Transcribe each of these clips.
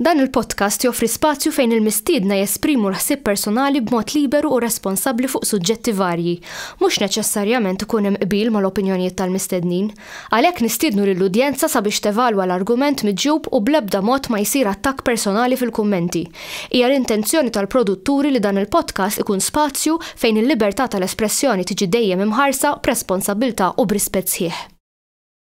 Dan il-podcast joffri spazju fejn il-mistiedna jesprimu l-ħsieb personali b'mod liberu u responsabbli fuq suġġetti varji. Mhux neċessarjament ikun hemm qbil mal-opinjonijiet tal-mistednin. Għalhekk nistiednu lill-udjenza sabiex tevalwa l-argument miġjub u bl-ebda mod ma jsir attakk personali fil-kummenti. Hija l-intenzjoni tal-produtturi li dan il-podcast ikun spazju fejn il-libertà tal-espressjoni tiġi dejjem imħarsa b'responsabbiltà u b'rispett sħiħ.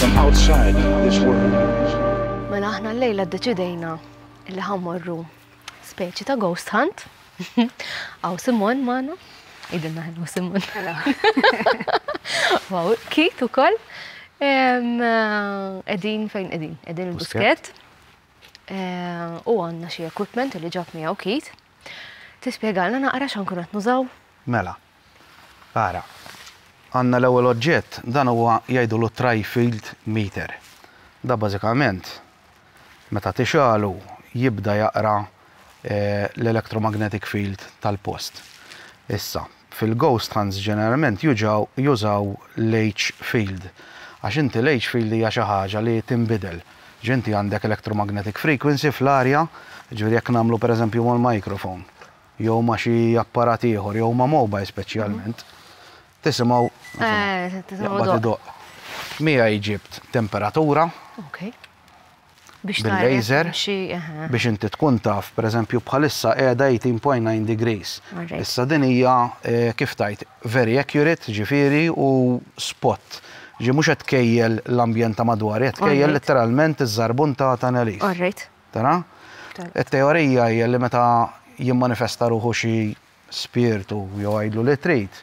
From outside this world. Mela aħna l-lejla ddeċidejna li ħammorru speċi ta' ghost hunt. Aw Simon magħna. Idilna ħellu Simon. Wow, kit ukoll. Em, eh, Edin fejn edin? Edin il-busket. Eh, U għandna xi equipment li ġab miegħu kit. Tispjegalna naqra x'ankun qed nużaw. Mela, Ara, għandna l-ewwel oġġett, dan huwa jgħidulu tri-field meter. Dan bażikament meta tixgħalu jibda jaqra l-electromagnetic field tal-post. Issa, fil-ghost hunts ġeneralment juġaw, jużaw l-H field għax inti l-H field hija xi ħaġa li tinbidel. Ġi inti għandek electromagnetic frequency fl-arja, jiġifieri jekk nagħmlu pereżempju mal-microphone, jew ma' xi apparat ieħor jew ma' mobile speċjalment, tisimgħu jaqbad idoqq. Miegħi ġibt temperatura bil-laser biex inti tkun taf, pereżempju bħalissa qiegħda 18.9 degrees. Issa din hija kif tgħid, very accurate ġifieri u spot. Ġifieri mhux qed tkejjel l-ambjent ta' madwar, qed tkejjel letteralment iż-żarbun ta' Tenerife. Tara? It-teorija hija li meta jimmanifesta ruħu xi spirtu, jew għidlu li trid,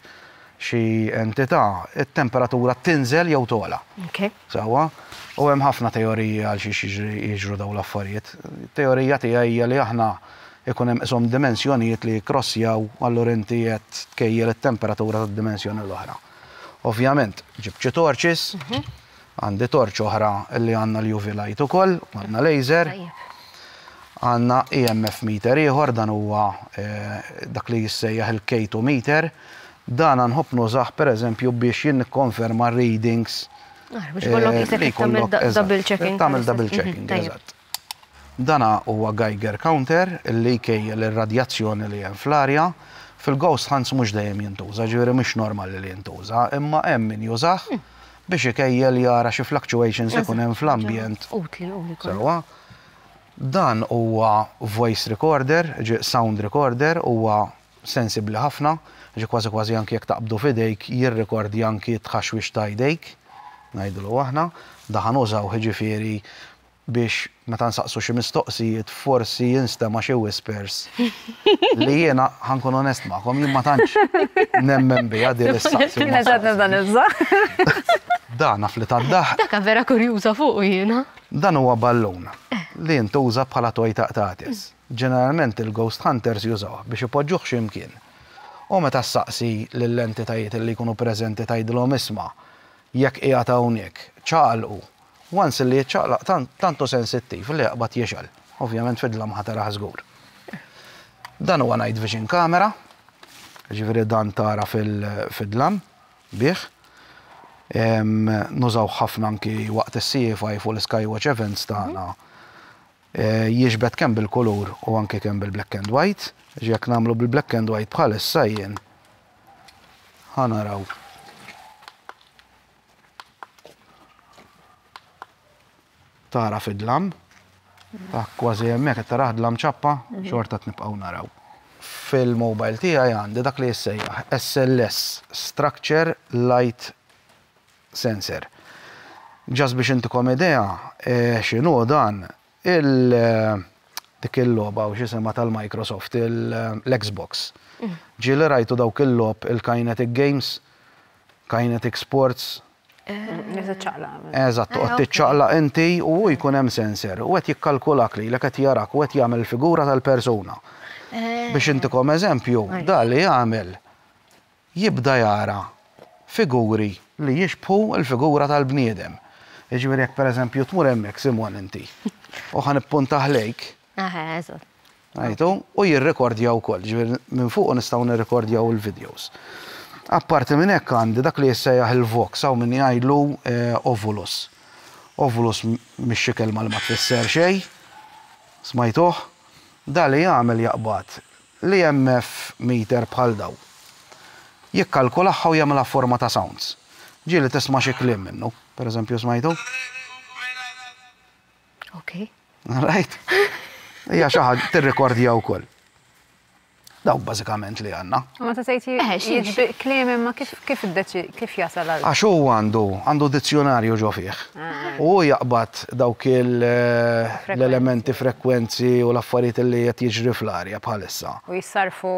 xi entità, it-temperatura tinżel jew togħla. Sewwa? U hemm ħafna teoriji għal xiex jiġru dawn l-affarijiet. It-teorija tiegħi hija li aħna ikun hemm qishom dimensjonijiet li jikkrossjaw, allura inti qed tkejjel it-temperatura tad-dimensjoni l-oħra. Ovvjament, ġibt xi torches, Għandi torċ oħra li għandna l-UV light ukoll, u għandna laser. Għandna EMF meter ieħor, dan huwa dak li jissejjaħ il-K2 meter. Dana nħobb nużah pereżempju biex jien nikkonferma r-readings. Biex ikollok isek tagħmel double checking. Tagħmel double checking, eżatt. Dan huwa Geiger counter li jkejjel ir-radjazzjoni li hemm fl-arja. Fil-ghost hunts mhux dejjem jintuża, ġifieri mhux normali li jintuża, imma hemm min jużah biex ikejjel jara xi fluctuations ikun hemm fl-ambjent. Sewwa. Dan huwa voice recorder, jiġifieri sound recorder, huwa sensibbli ħafna, jiġifieri kważi kważi anki jekk taqbdu f'idejk jirrikordja anki t-tħaxwix ta' jdejk, ngħidulu aħna. Dan ħa nużawh jiġifieri biex meta nsaqsu xi mistoqsijiet forsi jinstema' xi whispers li jiena ħa nkun onest magħkom jien ma tantx nemmen biha din is-saqsi. Jiena x'għad nibda nibża'. Da naf li tad-daħq. Daka vera kurjuża fuqu jiena. Dan huwa ballun li jintuża bħala toj ta' qtates. Ġeneralment il-ghost hunters jużawh biex ipoġġuh xi mkien. U meta ssaqsi lill-entitajiet li jkunu preżenti tgħidilhom isma' jekk qiegħed hawnhekk, ċaqalqu Once li jiċċaqlaq tant, tant hu sensittiv li jaqbad jixgħel. Ovvjament fid-dlamħa tarah żgur. Dan huwa night vision camera, ġifieri dan tara fid-dlam bih. Nużawh ħafna anki waqt is-CFI fuq l-Skywatch events tagħna. Jiġbed kemm bil-kulur u anki kemm bil-black and white. Jekk nagħmlu bil-black and white bħalissa jien ħa naraw. Tara fid-dlam. Kważi hemmhekk qed tarah dlam ċappa, xorta qed nibqgħu naraw. Fil-mobile tiegħi għandi dak li jissejjaħ SLS, Structure Light Sensor. Ġast biex intikom idea x'inhu dan, Il dik il-logħba u x'isimha tal-Microsoft, l-Xbox. Ġie li rajtu dawk il-logħob il-kinetic games, kinetic sports. Li tiċċaqlaq. Eżatt, toqgħod tiċċaqlaq inti u hu jkun hemm sensor u qed jikkalkulak lilek qed jarak u qed jagħmel figura tal-persuna. Biex intikom eżempju, dan li jagħmel jibda jara figuri li jixbħu l-figura tal-bniedem. Jiġifieri jekk pereżempju tmur hemmhekk Simon inti u ħa nippunta ħlejk. Aha, eżatt. Rajtu? U jirrikordja wkoll, jiġifieri minn fuqu nistgħu nirrikordjaw il-videos. Apparti minn hekk għandi dak li jissejjaħ il-vox, hawn min jgħidlu ovulus. Ovulus mhix xi kelma li ma tfisser xejn, smajtuh? Dan li jagħmel jaqbad L-EMF meter bħal daw. Jikkalkulaha u jagħmilha f'forma ta' sounds. Ġieli tisma' xi kliem minnu. Per eżempju smajtu? Ok. Rajt? Hija xi ħaġa tirrikordja wkoll. Dawk bażikament li għandna. Meta tgħid jiġbir kliem imma kif Kif jasal għal. Għax hu għandu, għandu dizzjunarju ġo fih. U hu jaqbad dawk l-elementi, frekwenzi u l-affarijiet li qed jiġri fl-arja bħalissa. U jissarrfu.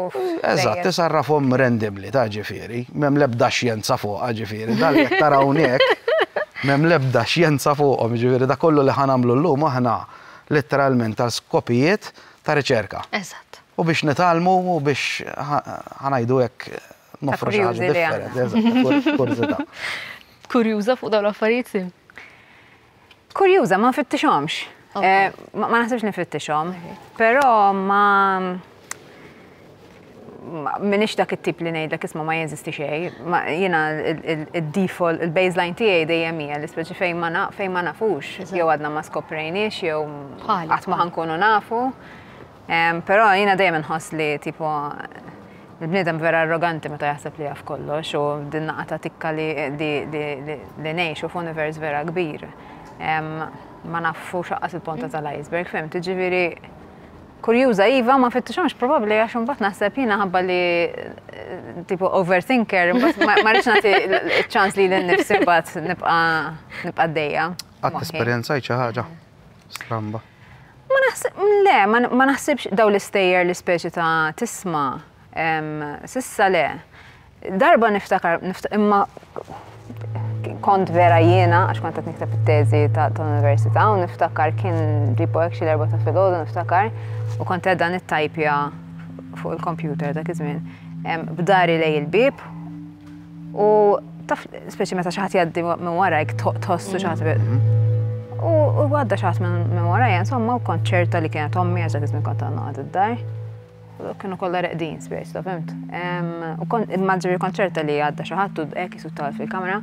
Eżatt, isarrafhom randomly, ta' ġifieri. M'hemm l-ebda xjenza fuqha, ġifieri. Dan li qed tara hawnhekk, m'hemm l-ebda xjenza fuqhom, jiġifieri dak kollu li ħa nagħmlu llum aħna litteralment għal skopijiet ta' riċerka. Eżatt. U biex nitgħallmu u biex, ħa ngħidu hekk, Nofru xi ħaġa differenti, kurżità. Kurjuża fuq dawn l-affarijiet? Kurjuża, ma nfittixhomx. Eh, ma naħsibx nifittixhom, però ma minix dak it-tip li ngħidlek isma' ma jeżisti xej, jiena il-default, il-baseline tiegħi dejjem hija li speċi fejn ma naf, fejn ma nafux, jew għadna ma skoprejniex jew qatt ma ħankunu nafu. Però jiena dejjem inħoss li tipo il-bniedem vera arroganti meta jaħseb li jaf kollox u din naqa ta' tikka li li ngħixu f'univers vera kbir. Ma nafu xaqqas il-ponta tal-iceberg, fim, tiġifieri kurjuża iva ma fittixhomx probabbli għax imbagħad naħseb jiena ħabba li tipo overthinker, ma rridx nagħti ċans li l-nifsi mbagħad nibqa' nibqa' dejja. Qatt esperjenzajt xi ħaġa? Stramba. Ma naħseb, le, ma naħsibx daw l-istejjer li speċi ta' tisma, sissa le. Darba niftakar, imma kont vera jiena, għax kont qed nikteb it-teżi ta' l-università, u niftakar kien ġipu hekk xi darba ta' filgħodu niftakar, u kont qed dan it-tajpja fuq il-kompjuter dak iż-żmien. B'dari lej il-bib, U taf, speċi meta xaħat jaddi minn warajk, tħossu xaħat. Mm-hmm. U għadda xaħat minn waraj, insomma, u kont ċerta li kienet ommi għazza kizmin kont għanna għad id-dar. Kienu kolla reqdin, speċi, ta' fimt. U kont, immaġġi kont ċerta li għadda xaħat u d-ek jisuttal fil-kamera.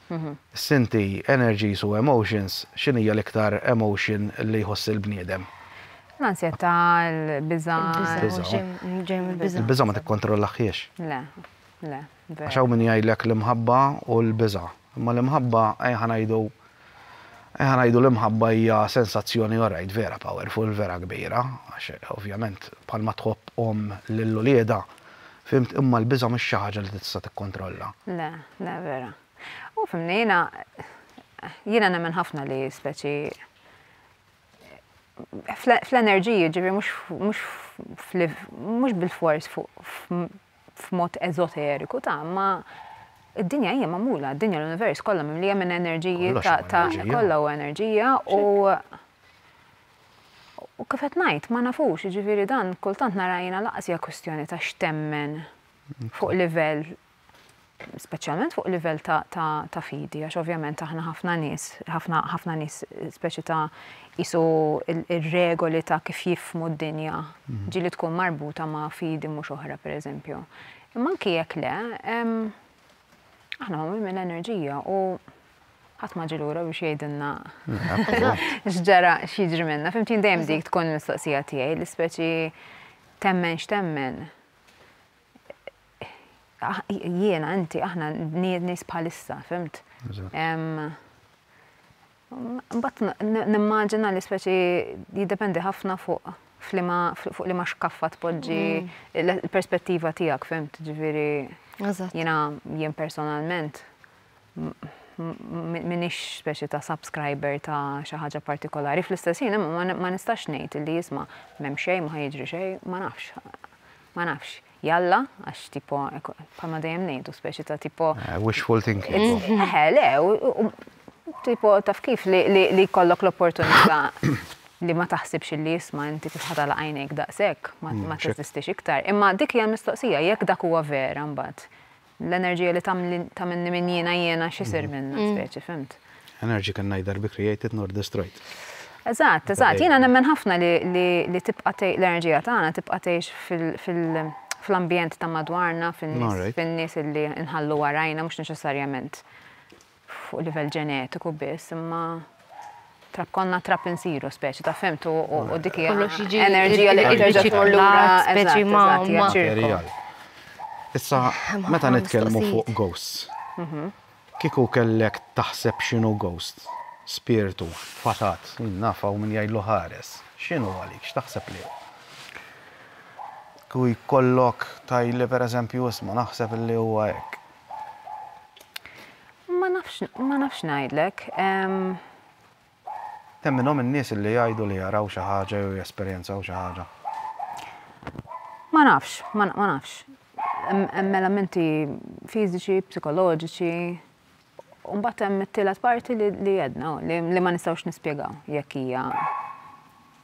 Sinti, energies u emotions, x'inhija l-iktar emotion li jħoss il-bniedem? L-ansjetà, il-biża'. Il-biża'. Ġej mill-biża'. Il-biża' ma tikkontrollahiex. Le, le, veru. Għax hawn min jgħidlek l-imħabba u l-biża'. Imma l-imħabba, ejja ngħidu, ejja ngħidu l-imħabba hija sensazzjoni orajt vera powerful, vera kbira, għax ovvjament bħalma tħobb omm lil uliedha, Fhimt, imma l-biża' mhix xi ħaġa li tista' tikkontrolla. Le, le, vera. U fhimni, jiena jiena nemmen ħafna li speċi fl-enerġiji, ġifieri mhux mhux bil-fors f'mod eżoteriku ta' ma id-dinja hija magħmula, id-dinja l-univers kollha mimlija minn enerġiji ta' kollha u enerġija u U kif qed ngħid, ma nafux, jiġifieri dan kultant nara jiena lanqas hija kwistjoni ta' x'temmen fuq livell speċjalment fuq livell ta' fidi, għax ovvjament aħna ħafna nies, ħafna nies speċi ta' jisu ir-regoli ta' kif jifmu d-dinja, mhm. ġili tkun marbuta ma' fidi mhux oħra pereżempju. Imma anki jekk le, aħna magħmul minn enerġija u ħadd ma ġi lura biex jgħidilna x'ġara x'jiġri minna. Fimtin dejjem dik tkun mistoqsija tiegħi li speċi temmen x'temmen. Ah, jiena inti aħna nied nies bħalissa, fimt? Mbagħad nimmaġina li speċi jiddependi ħafna fuq flima fuq li ma xkaffa tpoġġi mm. l-perspettiva tiegħek, fimt? Ġifieri jiena jien personalment m'iniex speċi ta' subscriber ta' xi ħaġa partikolari fl-istess ħin imma ma nistax ngħid li jisma' m'hemm xejn ma jiġri xejn, ma nafx. Ma nafx. Jalla, għax tipo, bħalma dejjem ngħidu speċi ta' tipo. Eh, wishful thinking. Eh, le, tipo taf kif li jkollok l-opportunità li ma taħsibx li jisma inti kif ħadala għajnejk daqshekk, ma mm, teżistix iktar. Imma dik hija mistoqsija jekk dak huwa vera mbagħad L-enerġija li tagħmilni min jiena jiena x'isir minnha speċi, fhimt? Energy can neither be created nor destroyed. Eżatt, eżatt. Jiena nemmen ħafna li tibqa' l-enerġija tagħna tibqa' tgħix fl-ambjent ta' madwarna, fin-nies li nħallu warajna mhux neċessarjament fuq livell ġenetiku biss imma trab konna trab insiru speċi ta' femtu u dik hija enerġija li terġa' tmur lura speċi ma' Issa meta nitkellmu fuq ghosts. Mhm. Kieku kellek taħseb x'inhu ghost? Spirtu, fatat, min naf hawn min jgħidlu ħares. X'inhu għalik? X'taħseb li hu? Kieku jkollok tajli pereżempju isma' naħseb li huwa hekk. Ma nafx, ma nafx ngħidlek. Hemm minnhom in-nies li jgħidu li jaraw xi ħaġa jew jesperjenzaw xi ħaġa. Ma nafx, ma nafx. Hemm elementi fiżiċi, psikoloġiċi, u mbagħad hemm it-tielet parti li għedna li ma nistgħux nispjegaw jekk hija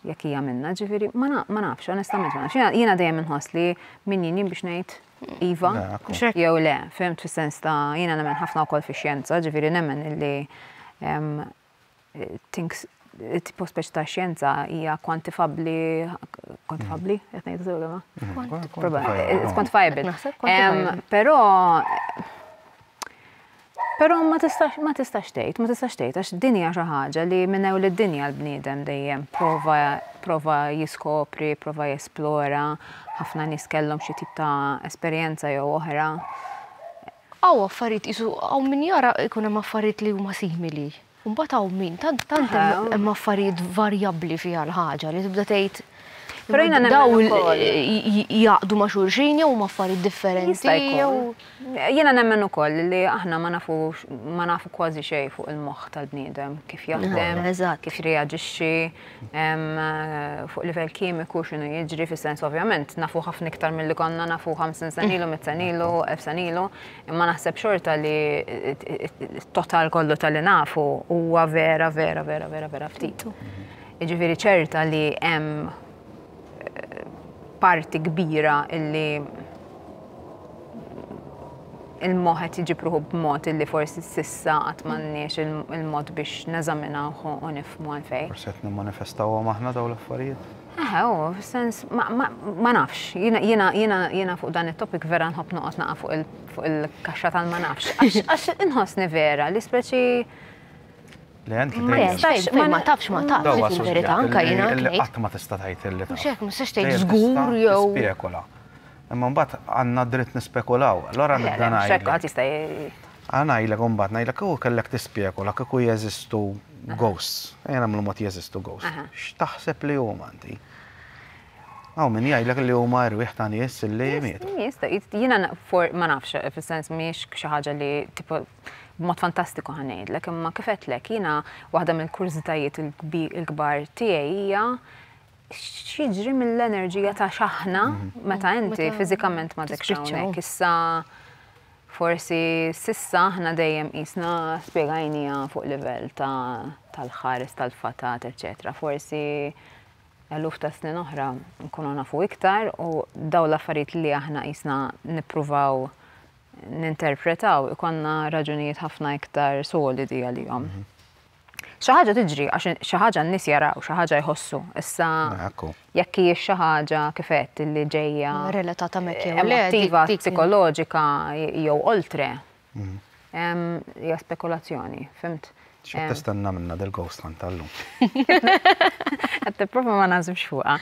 Jekk hija minna, ġifieri, ma nafx, onestament, ma nafx. Jiena dejjem inħoss li min jien biex ngħid iva, jew le, fimt fis-sens ta' jiena nemmen ħafna wkoll fix-xjenza, ġifieri nemmen li tipo speċi ta' xjenza hija kwantifabbli, kwantifabbli, qed ngħid sew ma? Kwantifabbli. Però Però ma tistax, ma tistax tgħid, ma tistax tgħid għax din hija xi ħaġa li minn ewl id-dinja l-bniedem dejjem prova prova jiskopri, prova jesplora, ħafna nies kellhom xi tip ta' esperjenza jew oħra. Hawn affarijiet qisu hawn min jara jkun hemm affarijiet li huma simili. Mbagħad hawn min, tant tant hemm affarijiet varjabbli fiha l-ħaġa li tibda tgħid dawl jaqdu ma' xulxin jew huma affarijiet differenti jew. Jiena nemmen ukoll li aħna ma nafux ma nafu kważi xejn fuq il-moħħ tal-bniedem, kif jaħdem, kif jirreaġixxi, fuq livell kimiku x'inhu jiġri fis-sens ovvjament nafu ħafna iktar milli konna nafu 50 sena ilu, 100 sena ilu, 1000 sena ilu. Imma naħseb xorta li t-total kollu tal-li nafu huwa vera, vera, vera, vera, vera ftit. Iġifiri ċerta li hemm eh, parti kbira illi il-moħet iġipruħu b'mod illi forsi sissa għat manniex il-mod biex neżaminaw u nifmu għalfej. Forsi għet nimmanifestaw għom aħna daw l-affarijiet. Eħe, u, sens, ma nafx, jina fuq dan il-topic vera nħob noqot naqa fuq il-kaxxa tal-ma nafx. Għax inħosni vera li speċi. Le, għanti ma ma tafx, ma tafx, il-verita, anka jina. Għat ma tista tajt il-li. Mux jek, mux tajt zgur, jow. Spekula. Imma mbat għanna dritt nispekulaw. L-għora nid-danaj. Spekula tista Ara ngħidlek u mbagħad ngħidlek kieku kellek tispekula kieku jeżistu ghosts, ejja nagħmlu mod jeżistu ghosts, x'taħseb li huma inti? Hawn min jgħidlek li huma erwieħ ta' nies li mietu. Jista', jiena ma nafx, fis-sens mhix xi ħaġa li tipo b'mod fantastiku ħa ngħidlek, imma kif għedtlek jiena waħda mill-kurżitajiet il-kbar tiegħi hija x'jiġri mill-enerġija ta' x'aħna meta inti fiżikament ma dekx hawnhekk. Issa Forsi s'issa aħna dejjem qisna spjegajniha fuq livell ta' tal-ħares tal-fatat, eċċetera. Forsi eluf ta' snin oħra nkunu nafu iktar u dawn l-affarijiet li aħna qisna nippruvaw ninterpretaw ikollna raġunijiet ħafna iktar solidi għalihom. Xi ħaġa tiġri għax xi ħaġa n-nies jaraw, xi ħaġa jħossu. Issa jekk hijiex xi ħaġa kif qed li ġejja relatata mek jew emotiva, psikoloġika jew oltre. Mm. Hija spekulazzjoni, fimt? X'qed tistenna minna del-ghost hunt tal-lum? Qed tipprova ma nażibx fuqha.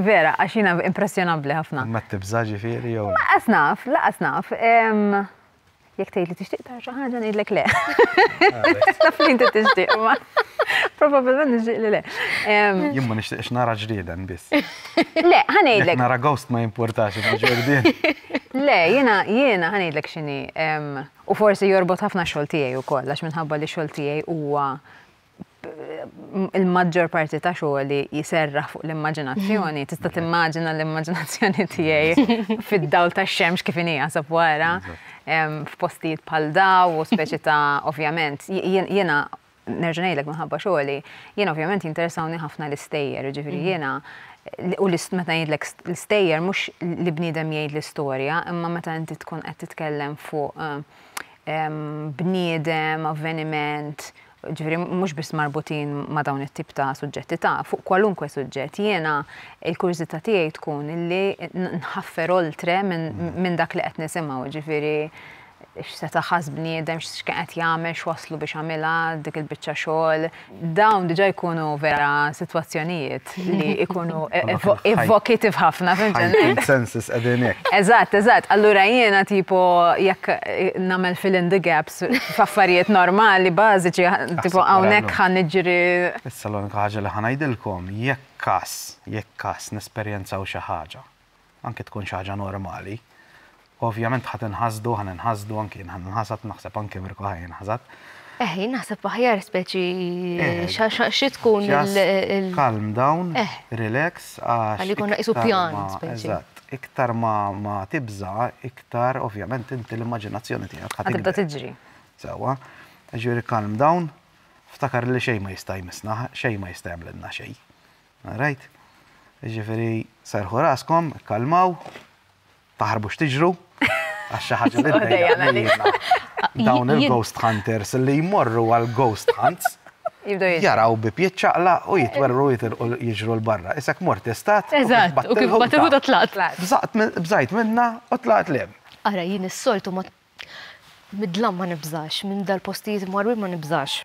Vera, għax jiena impressjonabbli ħafna. Ma tibżaġi fieri jew? Laqas naf, laqas naf. Jek tgħid li tixtieq tara xi ħaġa ngħidlek le. Taf li inti tixtieq ma. Probabilment nixtieq li le. Jien ma nixtieqx nara ġrieden biss. Le, ħanejdlek. Nara ghost ma jimpurtax ma ġurdien. Le, jiena jiena ħanejdlek x'inhi. U forsi jorbot ħafna xogħol tiegħi wkoll għax minħabba li xogħol tiegħi huwa il-maġġor parti ta' xogħli jiserraħ fuq l-immaġinazzjoni, tista' timmaġina l-immaġinazzjoni tiegħi fid-dawl tax-xemx kif inhi jasab wara, f'postijiet bħal daw u speċi ta' ovvjament, jiena nerġa' ngħidlek minħabba xogħli, jiena ovvjament jinteresawni ħafna l-istejjer, jiġifieri mm. jiena u meta ngħidlek l-istejjer mhux li bniedem jgħid l-istorja, imma meta inti tkun qed titkellem fuq bniedem, avveniment, ġifieri mhux biss marbutin ma' dawn it-tip ta' suġġetti ta' fuq kwalunkwe suġġett. Jiena il-kurżità tiegħi tkun li nħaffer oltre minn dak li qed nisimgħu, ġifieri x'seta' ħass bniedem, x'kien qed jagħmel, x'waslu biex għamilha dik il-biċċa xogħol. Dawn diġà jkunu vera sitwazzjonijiet fil-fatt li ikunu e- e- evo- evocative ħafna fil Heightened senses qegħdin hekk. Eżatt, eżatt. Allura jiena tipo jekk eh, nagħmel fill in the gaps f'affarijiet normali, bażiċi, ħa- tipo wara hawnhekk llum. ħan niġri Issa l-unika ħaġa li ħa ngħidilkom, jekk każ, jekk każ nesperjenzaw xi ħaġa, anki tkun xi ħaġa normali. Ovvjament ħa tinħasdu, ħa ninħasdu, anki jien ħa ninħasad, naħseb anki Mirko ħa jinħasad. Eh, jien naħseb aħjar speċi eh, xi tkun il- Calm down, eh. relax, għax. Għalli konna isu pjan speċi iktar ma, ma tibza, iktar ovvjament inti l-immaġinazzjoni tiegħek ħad tibda tiġri. Sewa, ġieri calm down, ftakar li xejn ma jista' jmissna, xejn ma jista' jagħmlilna xejn. All right? Jiġifieri serħu raskom, ikkalmaw, taħarbux tiġru, għax xi ħaġa li ddejjaqna. Dawn il-ghost hunters li jmorru għal ghost hunts jaraw bi pjiet ċaqla u jitwerru jiġru l-barra. Isek mort istat. Eżatt, u kif bat il-ħuda tlaqt. Bżajt minna u tlaqt lem. Ara, jien is-soltu Mid-dlam ma nibżax, minn dal-postijiet marwin ma nibżax.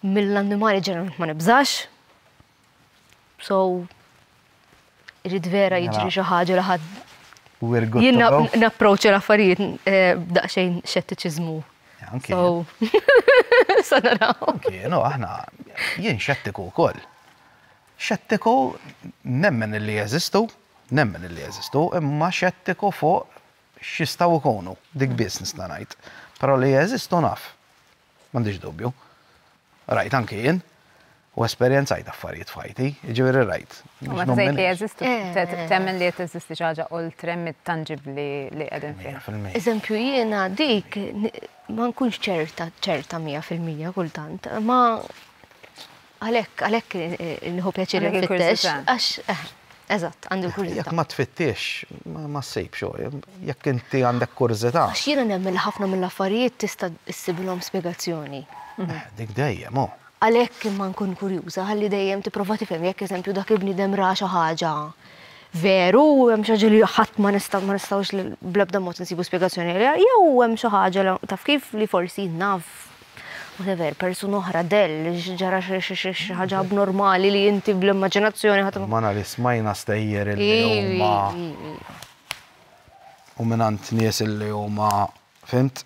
Mill-annimali ġeneralment ma nibżax. So, irrid vera jiġri mela. xi ħaġa li ħadd Jien napproċċa l-affarijiet eh, daqsxejn xettiċiżmu. So, sa naraw. Kienu aħna jien xettiku wkoll. Xettiku nemmen li jeżistu, nemmen li jeżistu, imma xettiku fuq x'jistgħu jkunu, dik biss nista' ngħid. Però li jeżistu naf. M'għandix dubju. Rajt anki jien. U esperjenzajt affarijiet f'ħajti, jiġifieri rajt. U meta tgħid li jeżistu, temmen li qed teżisti xi ħaġa oltre mit-tanġibbli li qegħdin fiha. Mija fil-mija. Eżempju, jiena dik ma nkunx ċerta, ċerta mija fil-mija kultant, imma Għalhekk, għalhekk nieħu pjaċir infittex għax Eżatt, għandi l-kurżità. Jekk ma tfittix, ma ssib xo, jekk inti għandek kurżità. Għax jiena nemmen ħafna mill-affarijiet tista' issibilhom spjegazzjoni. Dik dejjem, oh. Għalhekk imma nkun kurjuża ħalli dejjem tipprova tifhem jekk eżempju dak il-bniedem ra xi ħaġa veru u hemm xi ħaġa li ħadd ma nistgħux bl-ebda mod insibu spjegazzjoni għaliha jew hemm xi ħaġa taf kif li forsi naf whatever, persuna oħra, dell, ġara xi ħaġa abnormali li inti bl-immaġinazzjoni ħadd. Mana li smajna stejjer li huma u mingħand nies li huma fimt?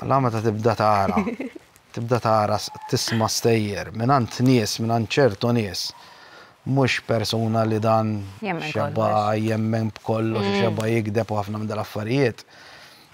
La meta tibda tara, tibda tara tisma' stejjer mingħand nies, mingħand ċertu nies. Mhux persuna li dan xebgħa jemmen b'kollox, xebgħa jigdeb u ħafna minn dal-affarijiet.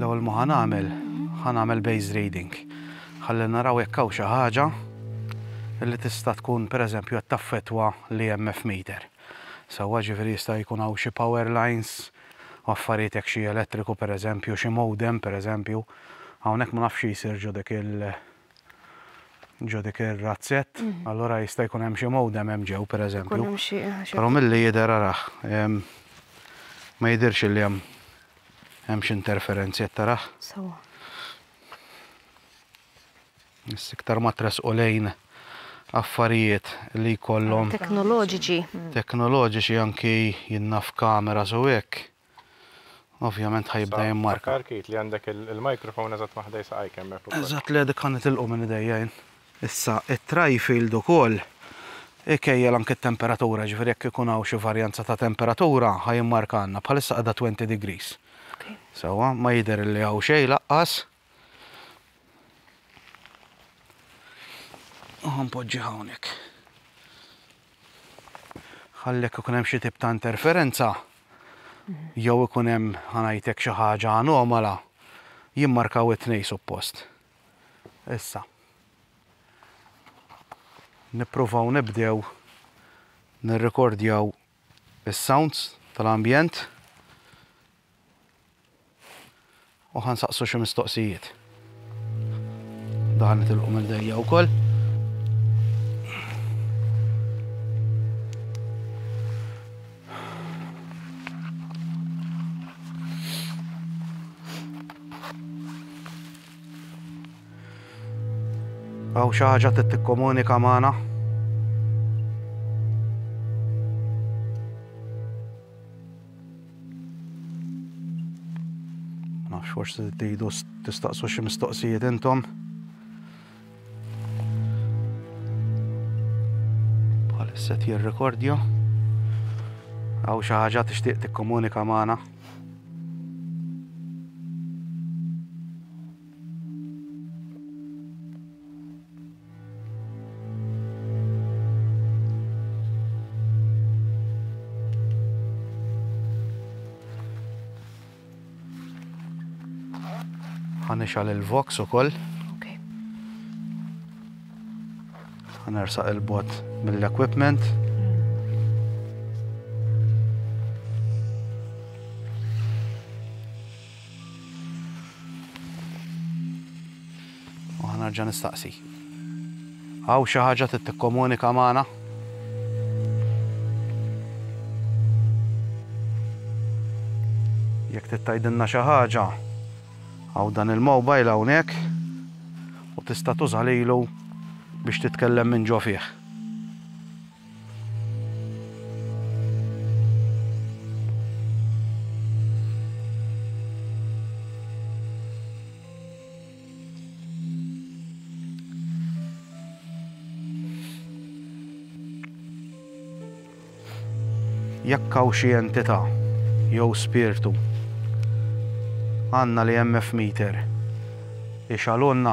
L-ewwel ma ħanagħmel, ħanagħmel base reading. Ħalli naraw jekk hawn xi ħaġa li tista' tkun pereżempju qed taffettwa li MF meter. Sewwa ġifieri jista' jkun hawn xi power lines, affarijiet hekk xi elettriku pereżempju, xi modem pereżempju. Hawnhekk ma nafx xi jsir ġo dik il- Ġo dik ir-razzett, allura jista' jkun hemm xi modem hemm ġew pereżempju. Kun hemm xi Però milli jidher arah ma jidhirx li hemm hemm xi interferenzi qed tarah. Sewa. Issa iktar ma tressqu lejn affarijiet li jkollhom. Teknoloġiċi. Teknoloġiċi anki jien naf kameras u hekk. Ovvjament ħajibda jimmarka. Sa, Kit, li għandek il-microphone eżatt ma' ħdej saqajk hemmhekk ukoll. Eżatt, le dik ħa nitilqu minn idejja jien. Issa, it-tri-field ukoll ikejjel anke t-temperatura, jiġifieri jekk ikun hawn xi varjanza ta' temperatura ħa jimmarkalna. Bħalissa qiegħda 20 degrees. Sewwa, ma jidher li hawn xejn laqqas. Uħan poġġi hawnhekk. Ħallek ikun hemm xi tip ta' interferenza jew ikun hemm ħanajtek xi ħaġa anomala jimmarkaw it-tnej suppost. Issa. Nippruvaw nibdew nirrekordjaw is-sounds tal-ambjent. U ħan saqsu xi mistoqsijiet. Daħal nitilqu minn dejja wkoll. Għaw xaħġa t-tikkomunika maħna. Nafx forsi tridu tistaqsu xi mistoqsijiet intom. Bħalissa jirrekordja. Għaw xi ħaġa tixtieq tikkomunika magħna. ħanixal il-vox u koll. Ħanersaq il-bot mill-equipment. U ħa nerġa' nistaqsi. Hawn xi ħaġa trid tikkomunika magħna? Jekk trid tgħidilna xi ħaġa, hawn dan il-mobile hawnhekk u tista' tuża lilu biex titkellem minn ġo fih. jekk hawn xi entità jew spirtu għandna li hemm meter ixalunna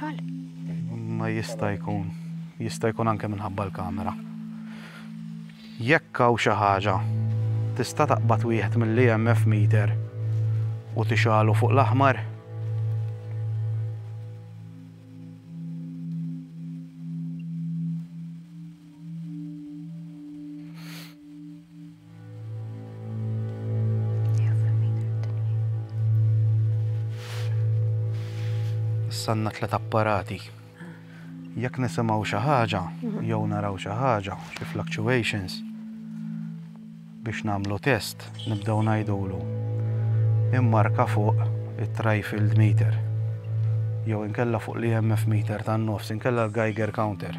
ċal? Ma jista' jkun, jista' jkun anke minħabba l-kamera. Jekk hawn xi ħaġa, tista' taqbad wieħed mill-EMF meter u tixalu fuq l-aħmar? sanna tlet apparati. Jekk nisimgħu xi ħaġa, jew naraw xi ħaġa, xi fluctuations, biex nagħmlu test nibdew ngħidulu immarka fuq it-trifield meter jew inkella fuq l-EMF meter tan-nofs inkella l-Geiger counter.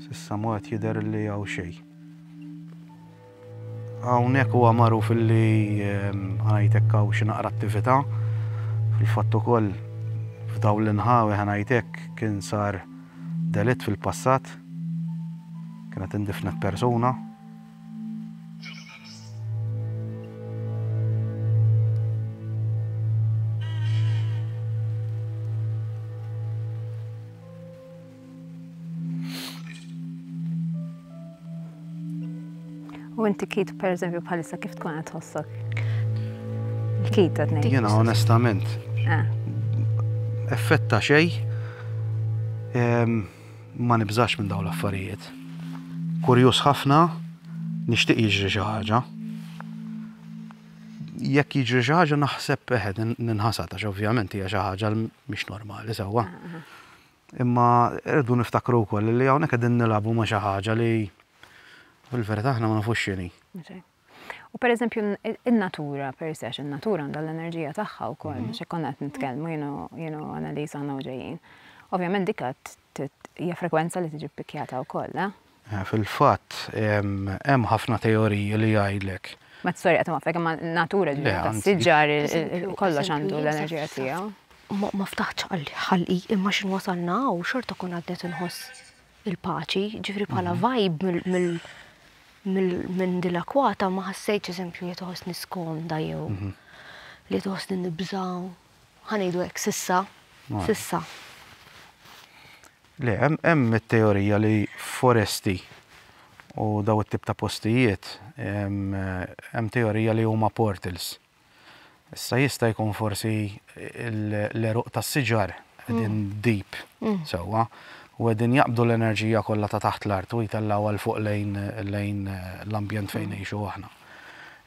S'issa ma qed jidher li hawn xejn. Hawnhekk huwa magħruf li ħanajt hekk hawn xi naqra attività. Fil-fatt ukoll f'dawn l-inħawi ħanajt hekk kien sar delitt fil-passat. Kienet indifnet persuna. U inti kit, per eżempju, bħalissa kif tkun għat tħossok? Kit, għadni. Jena, onestament. Ah. Effetta xej, ma nibżax minn daw l-affarijiet. Kurjus ħafna, nishtiq jiġri xi ħaġa. Jekk jiġri xi ħaġa naħseb eħed ninħasad għax ovvjament hija xi ħaġa mhix normali sewwa. Ah, ah. Imma rridu niftakru wkoll li hawnhekk qegħdin nilagħbu ma' xi ħaġa li fil-verità aħna ma nafux x'inhi. U per eżempju, il-natura per se, il-natura għandha l-enerġija tagħha u koll, mhm. xe konna għat nitkellmu, jenu analiza għana uġejjien. Ovvijament dikka hija frekwenza li tiġi pikjata u koll, eh? Fil-fatt, hemm ħafna teoriji li jgħidlek. Ma t-storja ta' Mafek imma n-natura ġdida tas-siġar kollox għandu l-enerġija tiegħu. Ma ftaħtx ħalqi imma x'in wasalna hawn xorta kont għad qed inħoss il-paċi, ġifieri bħala vibe mill minn dil akwata ma ħassejtx eżempju li toħosni skomda jew li toħosni nibżaw. Ħanejdu hekk sissa, sissa. Le, hemm it-teorija li foresti u daw it-tip ta' postijiet hemm teorija li huma portals. Issa jista' jkun forsi l-eruq tas-siġar qegħdin mm. deep mm. sewwa u qegħdin jaqbdu l-enerġija kollha ta' taħt l-art u jtellgħu għal fuq lejn lejn eh, l-ambjent fejn mm. ngħixu aħna.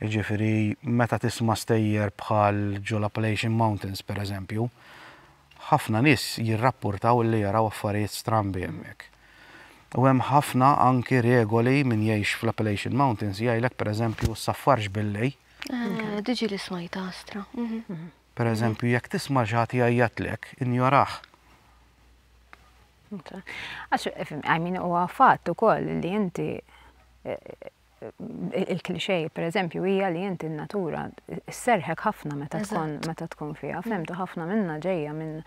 Jiġifieri meta tisma' stejjer bħal ġol Appalachian Mountains pereżempju, Ħafna nies jirrappurtaw li jaraw affarijiet strambi hemmhekk. U hemm ħafna anki regoli min jgħix fl-Appalachian Mountains jgħidlek pereżempju ssaffarx billej. Eh, diġi li smajta astra. Mhm. Pereżempju jekk tisma' xi ħadd jgħajjatlek, injorah. Għax, I mean, huwa fatt ukoll li inti eh, il-klixej, per eżempju, hija li inti n-natura s-serħek ħafna meta tkun meta tkun fiha, mm. femtu ħafna minna ġejja minn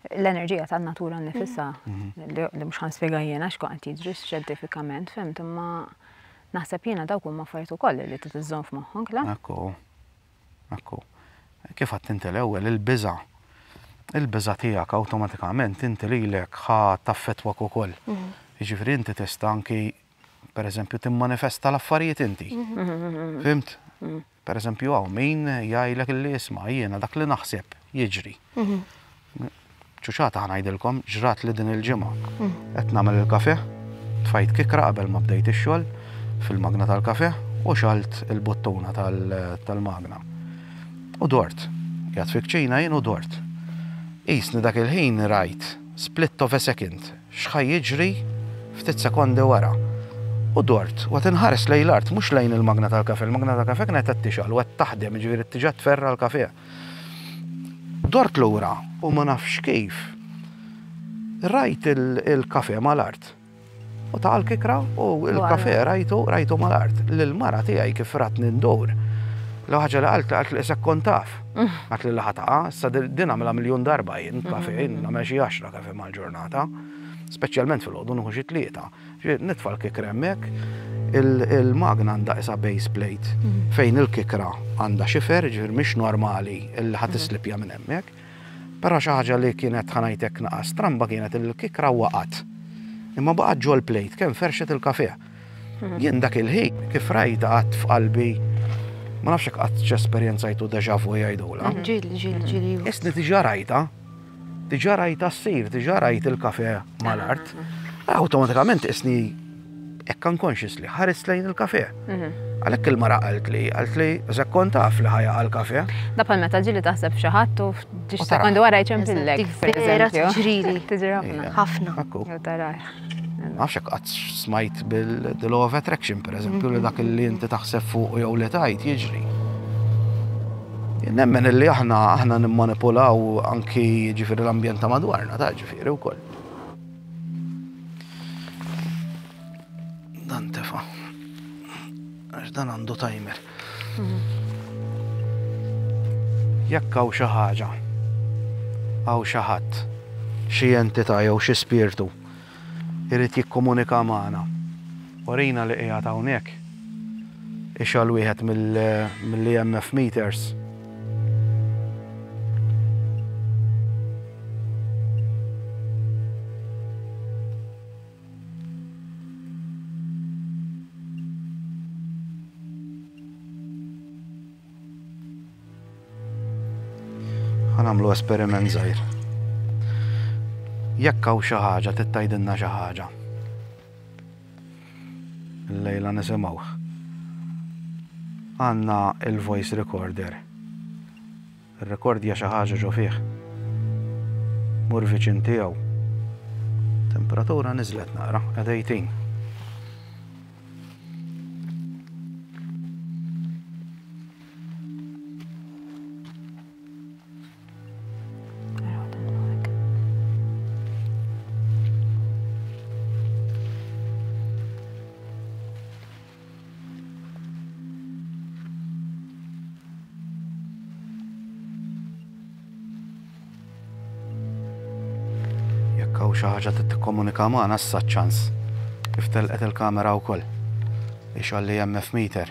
l-enerġija tan-natura nifisa mm-hmm. li mhux ħanspjega jiena x'kun qed jiġri xjentifikament, femtu imma naħseb jiena dawk huma affarijiet ukoll li trid iżżomm f'moħħok, la? Akku. Akku. Kif għad inti l-ewwel il-biża' il-biża' tiegħek awtomatikament inti lilek ħa taffetwak ukoll. Mm-hmm. Jiġifieri inti tista' anki per eżempju, timmanifesta l-affarijiet inti. Fimt? Per eżempju, għaw min jgħajlek li isma jiena dak li naħseb jiġri. ċuċata ħanajdilkom ġrat li din il-ġimgħa. Qed nagħmel il-kafe, tfajt kikra qabel ma bdejt ix-xogħol fil-magna tal-kafe u xalt il-buttuna tal-magna. U dort. Jgħat fikċina jien u dort. Isni dak il-ħin rajt split of a second X'ħa jiġri ftit sekondi wara? U dort, u qed inħares lejn l-art, mhux lejn il-magna tal-kafè. Il-magna tal-kafè kienet qed tixgħal u qed taħdem, jiġifieri tiġa tferra l-kafè. Dort lura u ma nafx kif, rajt il-kafè mal-art. U ta' l-kikra u l-kafè rajtu, rajtu mal-art. Lill-mara tiegħi kif ratni ndur, l-ewwel ħaġa li qaltli, qaltli isek kont taf. Qaltli li ħa taqa', issa din nagħmilha miljun darba jien kafè, nagħmel xi għaxra kafè. mal-ġurnata, speċjalment filgħodu nieħu xi tlieta. Nitfa' l-kikra hemmhekk, il-magna għandha qisha base plate mhm. fejn il-kikra għandha xifer, ġifier mhix normali li ħadd mhm. islipja minn hemmhekk. Però xi ħaġa li kienet ħanajtek naqas tramba kienet il-kikra waqat. Imma baqgħet ġol plejt kemm ferxet il-kafe. Mhm. Jien dak il-ħin kif rajta qatt f'qalbi ma nafx hekk qatt x'esperjenzajtu deja vu jgħidula. Mhm. Ġili, ġili, mhm. ġili. Isni diġà rajta Diġà rajtha ssir, diġà rajt il-kafe mal-art. Awtomatikament isni hekk unconscious li ħares lejn il-kafe. Mhm. Għalhekk il-mara qalt li, qalt li zakkon taf li ħajja għal-kafe. Da bħal meta ġili taħseb xi ħadd u ġiex sekondi wara jċempillek. Vera tiġrili. Tiġri ħafna. Ħafna. Nafx hekk qatt smajt bil-the law of attraction, per eżempju, li dak li inti taħseb fuq jew li tajt jiġri. Nemmen li aħna aħna nimmanipulaw anki ġifiri l-ambjent ta' madwarna, ta' ġifiri u koll. Dan tefa. Għax dan għandu timer. Jekk hawn xi ħaġa, hawn xi ħadd, xi entità jew xi spirtu jrid jikkomunika magħna, urina li qiegħed hawnhekk, ixgħal wieħed mill-EMF meters. Għanamlu esperiment zaħir. Jekk hawn xi ħaġa tittajdilna xi ħaġa. Lejla nisimgħu. Għandna il-voice recorder. Irrekordja xi ħaġa ġo fih. Mur viċin tiegħu. Temperatura niżlet naqra, qed 18. u xi ħaġa trid tikkomunika magħna issa ċans. Kif telqet il-kamera wkoll. Ixalli hemm F meter.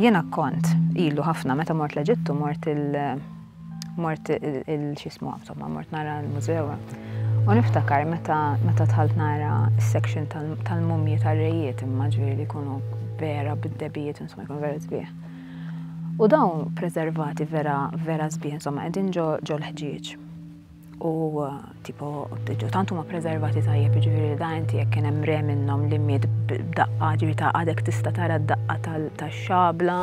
Jena kont, ilu ħafna, meta mort l-Eġittu, mort il- Mort il-xismu, insomma, mort nara l-mużew. U niftakar meta meta tħalt nara s-section tal-mumji tal-rejiet, imma ġviri li kunu vera bid-debijiet, insomma, jkun vera zbieħ. U dawn preservati vera vera zbieħ, insomma, għedin ġo l-ħġieġ. u tipo tant huma preservati tajjeb ġifieri da inti jekk kien hemm re minnhom li miet b'daqqa ġifieri ta' għadek tista' tara d-daqqa tax-xabla.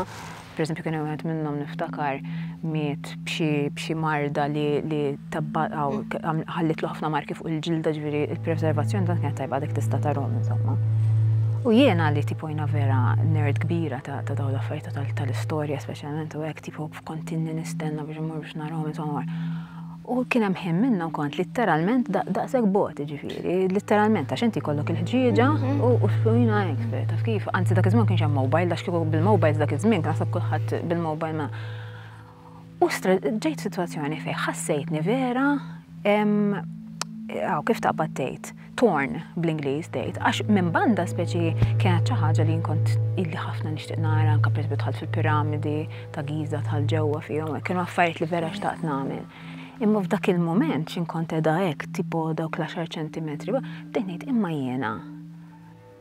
Pereżempju kien hemm wieħed minnhom niftakar miet b'xi marda li li ħallitlu ħafna marki fuq il-ġilda ġifieri il-preservazzjoni tant kienet tajba għadek tista' tarhom insomma. U jiena li tipo jiena vera nerd kbira ta' ta' dawn l-affarijiet tal-istorja speċjalment u hekk tipo kont inni nistenna biex immur biex narahom insomma. U kien hemm ħin minnhom kont litteralment daqshekk bot, ġifieri, litteralment għax inti kollok il-ħġieġa mhm. u s-sujna expert, taf kif, anzi dak iż-żmien kienx hemm mobile, għax kieku bil-mobile dak iż-żmien naħseb kulħadd bil-mobile ma. U ġejt situazzjoni fejn ħassejtni vera għaw kif taqbad tgħid. torn bl-Ingliż tgħid, għax minn banda speċi kienet xi ħaġa li nkont illi ħafna nixtieq nara anke pereżempju dħalt fil-piramidi ta' Giza tal ġewwa fihom, kienu affarijiet li vera xtaqt nagħmel. Imma f'dak il-mument x'inkont edha hekk tipo dawk l-10 ċentimetri, bdejt ngħid imma jiena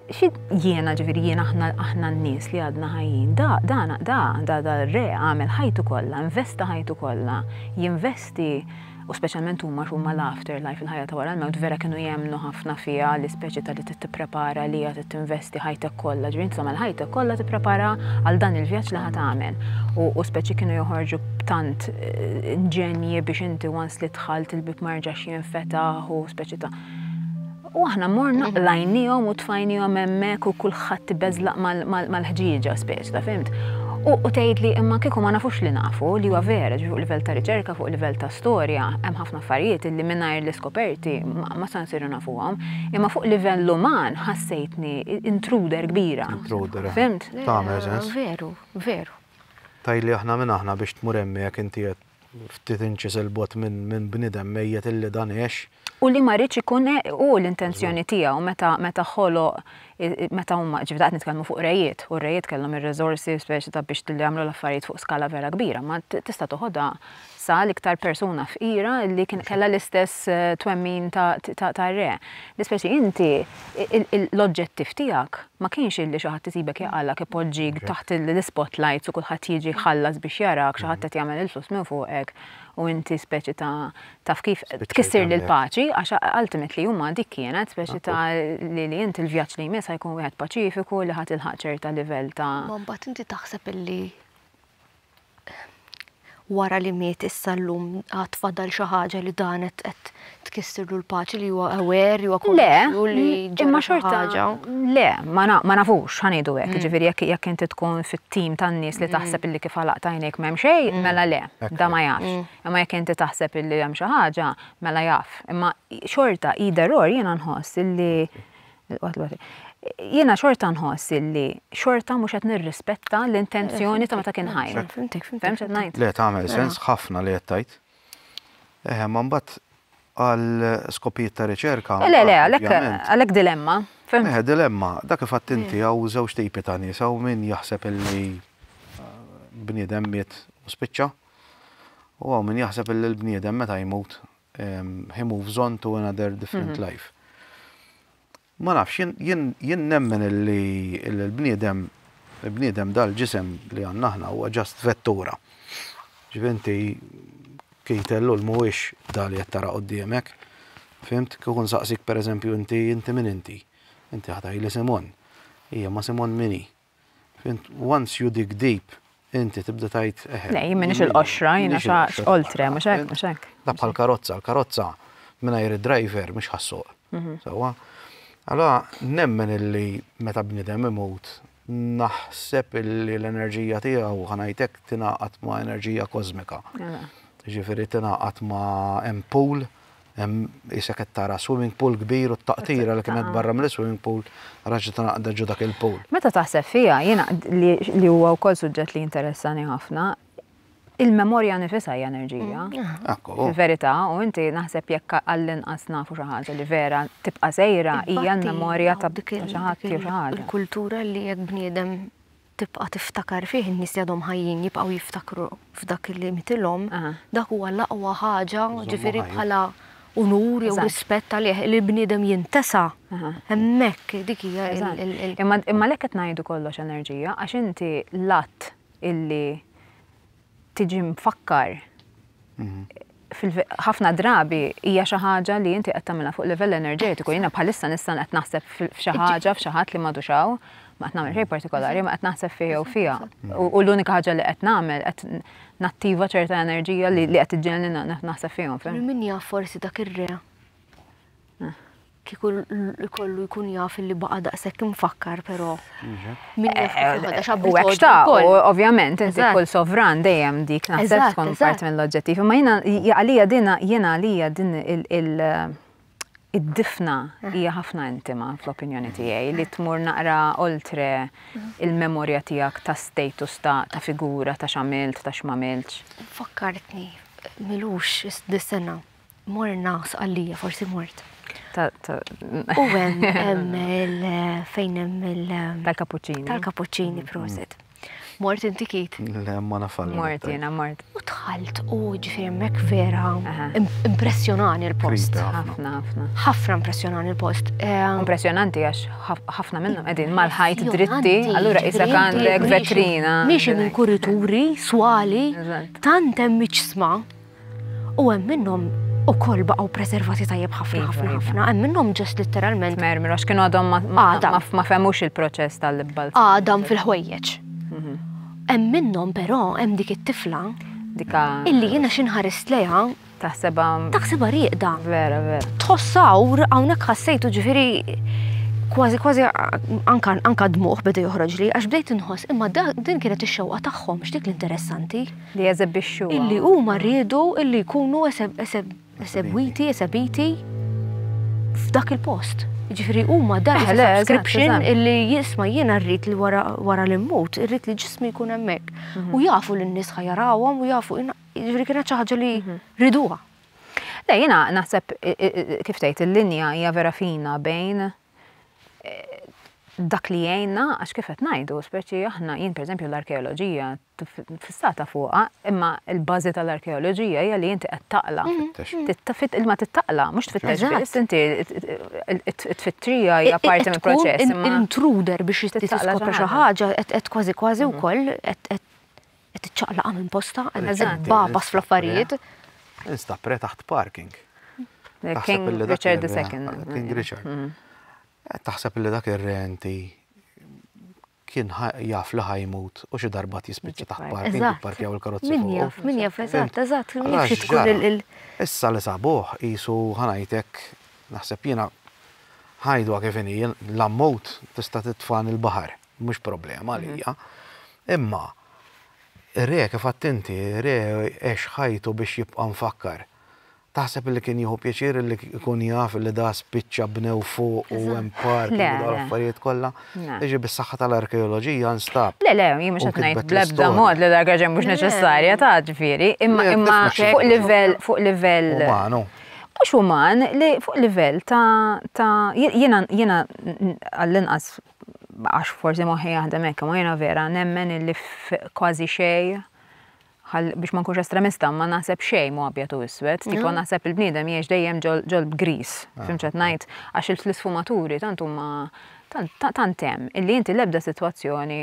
Xi jiena ġifieri jiena aħna aħna n-nies li għadna ħajjin, da da da da da r-re għamel ħajtu kollha, investa ħajtu kollha, jinvesti u speċjalment huma huma l-afterlife il-ħajja ta' wara l-mewt vera kienu jemmnu ħafna fiha l-ispeċi ta' li tipprepara li hija tinvesti ħajtek kollha, ġifieri inti tagħmel ħajtek kollha tipprepara għal dan il-vjaġġ li ħa tagħmel. U, u speċi kienu joħorġu b'tant eh, inġenji biex inti once li dħalt il-bib ma jerġax jinfetaħ u speċi ta' U aħna morna qlajniehom u tfajniehom hemmhekk u kulħadd ibeżlaq mal-ħġieġa speċta, fhimt? U tgħidli imma kieku ma nafux li nafu li huwa vera ġifu livell ta' riċerka fuq livell ta' storja hemm ħafna affarijiet li mingħajr l-iskoperti ma sa nsiru nafuhom. Imma fuq livell uman ħassejtni intruder kbira. Intruder. Fhimt? Tagħmel sens. Veru, veru. Tgħidli aħna min aħna biex tmur hemmhekk inti qed ftit inċis 'il bogħod minn bniedem mejjet illi dan għex. U li ma riedx ikun hu l-intenzjoni tiegħu meta meta ħoloq meta huma ġifieri qed nitkellmu fuq rejiet, u r-rejiet kellhom ir-riżorsi speċi ta' biex li jagħmlu l-affarijiet fuq skala vera kbira, ma tista' toħodha sa l-iktar persuna fqira li kellha l-istess twemmin ta' ta' ta' re. Li speċi inti. L-oġġettiv tiegħek ma kienx illi xi ħadd isibek jaqalgħek ipoġġik taħt l-ispotlights u kulħadd jiġi jħallas biex jarak, xi ħadd qed jagħmel il-flus minn fuqek u inti speċi ta' taf kif tkissirli l-paċi għax ultimately huma dik kienet speċi ta' li li inti l-vjaġġ li jmiss ħajkun wieħed paċifiku li ħa tilħaq ċerta livell ta' Ma mbagħad inti taħseb illi wara li miet issa llum għad fadal xi ħaġa li dan qed qed tkissirlu l-paċi li huwa aware, li huwa konxju li ġara Imma xi xorta ħaġa. le, ma na- ma nafux ħanidu hekk, ġifieri jekk jekk inti tkun fit-tim tan-nies li taħseb illi kif għalaqt għajnejk m'hemm xejn, mela le, da ma jafx. Imma jekk inti taħseb illi hemm xi ħaġa, mela jaf. Imma xorta either or jiena nħoss illi Jiena xorta nħoss illi xorta mhux qed nirrispetta l-intenzjoni ta' meta kien ħajr. Fehmx qed ngħid? Le tagħmel mela. sens ħafna li qed tgħid. Eħe, ma mbagħad għal skopijiet ta' riċerka. Le, le, għalhekk dilemma. Eħe, dilemma. Dak kif għadt inti hawn żewġ tipi ta' nies, hawn min jaħseb illi bniedem miet u spiċċa, u hawn min jaħseb illi l-bniedem meta jmut he moves on to another different life. Ma nafx, jien nemmen li l-bniedem, l-bniedem dal-ġisem li għanna ħna huwa ġast vettura. Ġivinti, kejtellu l-muwix dal li jattara qoddimek. Fimt, kukun saqsik per eżempju inti, inti min inti? Inti ħataj li Simon. Ija, ma Simon mini? Fint, once you dig deep, inti tibda tajt eħe. Le, jien minix il-qoxra, jina xax oltre, mux hekk, mux hekk. Da bħal karozza, l-karozza minna jiri driver mux ħassuq. Mhm. Sawa? Għala, nemmen illi meta bnidem imut, naħseb illi l-enerġija tijaw ħanajtek tinaqat ma' enerġija kozmika. Ġifiri tinaqat ma' empul Hemm qisek qed tara swimming pool kbir u t-taqtira li kienet barra mill-swimming pool raġgħet ingħaqdet ġo dak il-pool. Meta taħseb fiha, jiena li huwa wkoll suġġett li jinteressani ħafna, il-memorja nifisha hija enerġija. Ekku. Fil-verità, u inti naħseb jekk għall-inqas nafu xi ħaġa li vera tibqa' sejra hija l-memorja ta' xi ħadd jew xi ħaġa. Il-kultura li jekk bniedem tibqa' tiftakar fih, in-nies li għadhom ħajjin jibqgħu jiftakru f'dak li mitilhom, dak huwa l-aqwa ħaġa, ġifieri bħala unur jew rispett għalih, li bniedem jintesa', hemmhekk, dik hija l-. Imma għalhekk qed ngħidu kollox enerġija, għax inti l-att illi. tiġi mfakkar ħafna drabi hija xi ħaġa li inti qed tagħmilha fuq livell enerġetiku. Jiena bħalissa nista' qed naħseb f'xi ħaġa f'xi ħadd li m'għadux hawn, ma qed nagħmel xejn partikolari, ma qed naħseb fih jew fiha. U l-unika ħaġa li qed nagħmel qed nattiva ċerta enerġija li qed iġġenni naħseb fihom. Min jaf forsi dak ir-re. Kieku l-kollu jkun jaf li baqa daqshekk imfakkar però. Min jaf kif jħodha x'abbiż U hekk għoddu ta' wkoll. u ovvjament inti Eżatt. kull sovran dejjem dik naħseb Eżatt, tkun eżatt. parti mill-oġġettiv. Imma jiena għalija din jiena għalija din il- il- id-difna hija ħafna intima fl-opinjoni tiegħi li tmur naqra oltre il-memorja tiegħek ta' status ta' ta' figura ta' x'għamilt ta' x'm'għamiltx. Fakkartni, m'ilux dis-sena, Morna sqallija, forsi mort. U hemm fejn hemm il- Tal-kapuċċini. Tal-kapuċċini, proset. Mort inti kit? Le, ma nafalli. Mort jena, mort. U tħalt u ġifirmek vera impressjonani l-post. Ħafna, ħafna. ħafna impressjonani l-post. Ehm, impressjonanti għax ħafna minnhom qegħdin mal-ħajt dritti, allura isa għandek vetrina. Miex minn kurituri, swali, tant hemm miċsma. U hemm minnhom ukoll baqgħu preservati tajjeb ħafna iva, ħafna iva. ħafna. Hemm minnhom ġest litteralment. Mermi, għax kienu għadhom ma femux il-proċess tal-libbalz. Għadhom fil-ħwejjeġ. Mhm. Hemm minnhom però hemm dik it-tifla dika. Illi jiena xinħarist leja. Taħseba. Taħseba riqda. Vera, vera. Tħossawr, hawnhekk ħassejtu ġifieri kważi kważi anka dmuħ beda joħroġ li għax bdejt inħoss imma din kienet ix-xewqa tagħhom x'dik l-interessanti. li jeżebixxu. Illi huma riedu illi jkunu esebwiti, esebiti f'dak il-post. Ġifri huma dan subscription illi jisma jiena rrid li wara li mmut, irrid li ġismi jkun hemmhekk. Mhm. U jafu li n-nies ħajarawhom u jafu ġifri kienet xi ħaġa li mhm. riduha. Le jiena naħseb kif tgħid il-linja hija vera fina bejn dak li jgħinna, għax kif qed ngħidu, speċi aħna jien pereżempju l-arkeoloġija fissata fuqha, imma l-bażi tal-arkeoloġija hija li inti qed taqla. Mhm. Imma tittaqla, mhux tfittex biss, inti tfittrija hija parti mill-proċess. Intruder biex tiskopri xi ħaġa qed kważi kważi mhm. wkoll Qed tiċċaqlaqa minn posta, qed eżatt babas fl-affarijiet. Insta pre taħt parking. King Richard II. King Richard. Mm. Taħseb li dak ir-renti kien jaf li ħajmut u xi darba tispiċċa taħt parking jipparkjaw il-karozzi. Min jaf, min jaf, eżatt, eżatt, jimxi tkun il- Issa li sabuħ jisu ħanajtek naħseb jiena ħajdu kif inhi l-ammut tista' titfan il-baħar. Mhux problema għalija. Imma re kif għedt inti, re għex ħajtu biex jibqa' mfakkar. Taħseb li kien jieħu pjaċir li jkun jaf li da spiċċa bnew fuq u hemm park u dawn l-affarijiet kollha? Jiġri bis-saħħa tal-arkeoloġija nstab. Le, le, jien mhux qed ngħid bl-ebda mod li l-arkeoloġija mhux neċessarja ta' ġifieri, imma imma fuq livell fuq livell. Umanu. Mhux uman li fuq livell ta' jiena jiena għall-inqas għax forsi moħħi jaħdem hekk, ma jiena vera nemmen illi kważi xej biex ma nkunx estremista, ma naħseb xej mu abjad u iswed, tipo mhm. naħseb il-bniedem jiex dejjem ġol b'gris, ah, fimċet ngħid, għax il-sfumaturi tant huma tant hemm illi inti l-ebda sitwazzjoni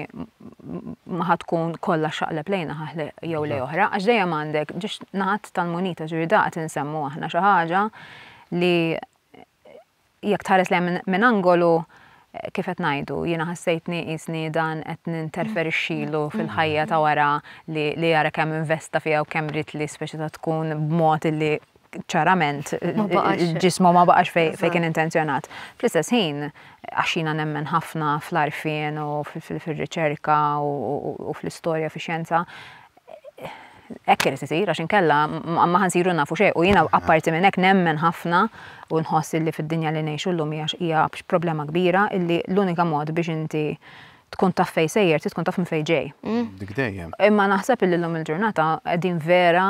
ma ħad tkun kollha xaqleb lejna ħaħle jew lej oħra, għax dejjem għandek ġiex naħat tal-munita ġifieri daqt insemmu aħna xi ħaġa li Jekk tħares lejha minn min angolu, kif qed ngħidu, jiena ħassejtni qisni dan qed ninterferixxilu fil-ħajja ta' wara li li ara kemm investa fiha u kemm ried li s-soċjetà tkun b'mod li ċarament ġismu ma baqax fejn kien intenzjonat. Fl-istess ħin, għax jiena nemmen ħafna fl-għarfien u fir-riċerka u fl-istorja, fix-xjenza, hekk irid isir għax inkella ma ħansiru nafu xejn u jiena apparti minn hekk nemmen ħafna u nħoss illi fid-dinja li ngħixu llum hija hija problema kbira illi l-unika mod biex inti tkun taf fejn sejjer trid tkun taf minn fejn ġej. Mm. Dik dejjem. Imma naħseb illi llum il-ġurnata qegħdin vera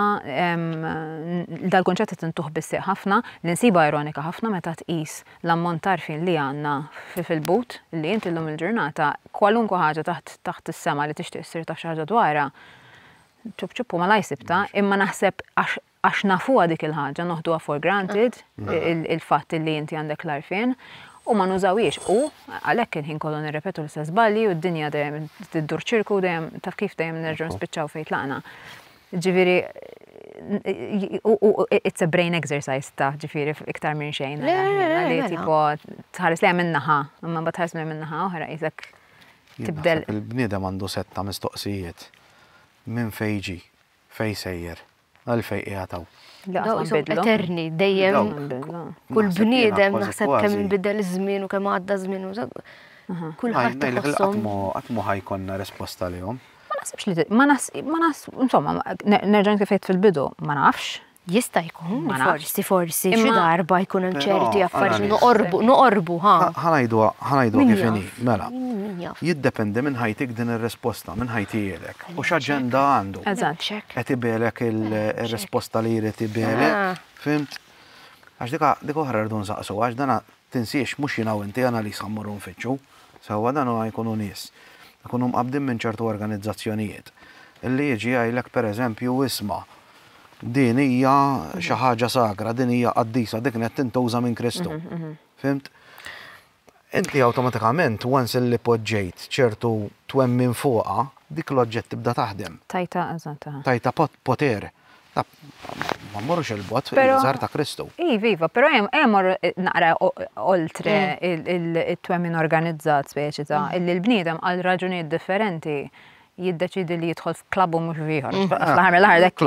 dal-kunċett qed intuħ bissieq ħafna li nsiba ironika ħafna meta tqis l-ammont ta' għarfien li għandna fil-but li int illum il-ġurnata kwalunkwe ħaġa taħt taħt is-sema li tixtieq ssir taf xi ħaġa dwarha, ċupp ċupp u malajr sibtha, imma naħseb għax għax nafuha dik il-ħaġa noħduha for granted il-fatt li inti għandek l-għarfien u ma nużawhiex u għalhekk il-ħin kollu nirrepetu l-istess żbalji u d-dinja dejjem tiddur ċirku dejjem taf kif dejjem nerġgħu nispiċċaw fejn tlaqna. Ġifieri it's a brain exercise ta' ġifieri iktar minn xejn. Le, li mela. tipo tħares li minn naħa, imma bat tħares li minn naħa oħra jizek tibdel. Il-bniedem għandu setta mistoqsijiet minn fejġi, fej sejjer, għal fej qiegħataw. Eterni, dejjem. Kull bniedem naħseb kemm bidel iż-żmien u kemm għadda żmien. Kull ħadd. Għatmu ħajkonna risposta li jom. Ma naħsibx li ma nas ma nas insomma nerġa' kif qed fil-bidu ma nafx. Jista' jkun forsi forsi xi darba jkun hemm ċerti affarijiet noqorbu noqorbu ha. Ħanajdu ħanajdu kif inhi mela. Jiddependi minn ħajtik din ir-risposta, minn ħajti jgħidlek. U x'aġenda għandu. Eżatt. Qed ibegħlek ir-risposta li jrid ibegħlek. Fimt? Għax dik dik oħra rridu nsaqsu għax dan Tinsiex, mhux jiena u inti, Annalise ħa mmorru nfittxu. Sewwa, dan huwa jkunu nies. Ikunu mqabbdin minn ċertu organizzazzjonijiet. Li jiġi jgħidlek per eżempju, isma', din hija xi ħaġa sagra, din hija qaddisa, dik qed tintuża minn Kristu. Fhimt? Inti awtomatikament once li poġġejt ċertu twemmin fuqha, dik l-oġġett tibda taħdem. Tajtha, eżatt. Tajtha poter. Ma mmorrux il-bot, il-żar ta' Kristu. Iva, iva, pero jem jemmor eh, naqra oltre mm. il-twemmin organizzat speċi ta' mm. illi l-bniedem għal raġunijiet differenti jiddeċidi li jidħol f'klabbu mhux viħor. Mm. Fl-ħar mill-ħardek.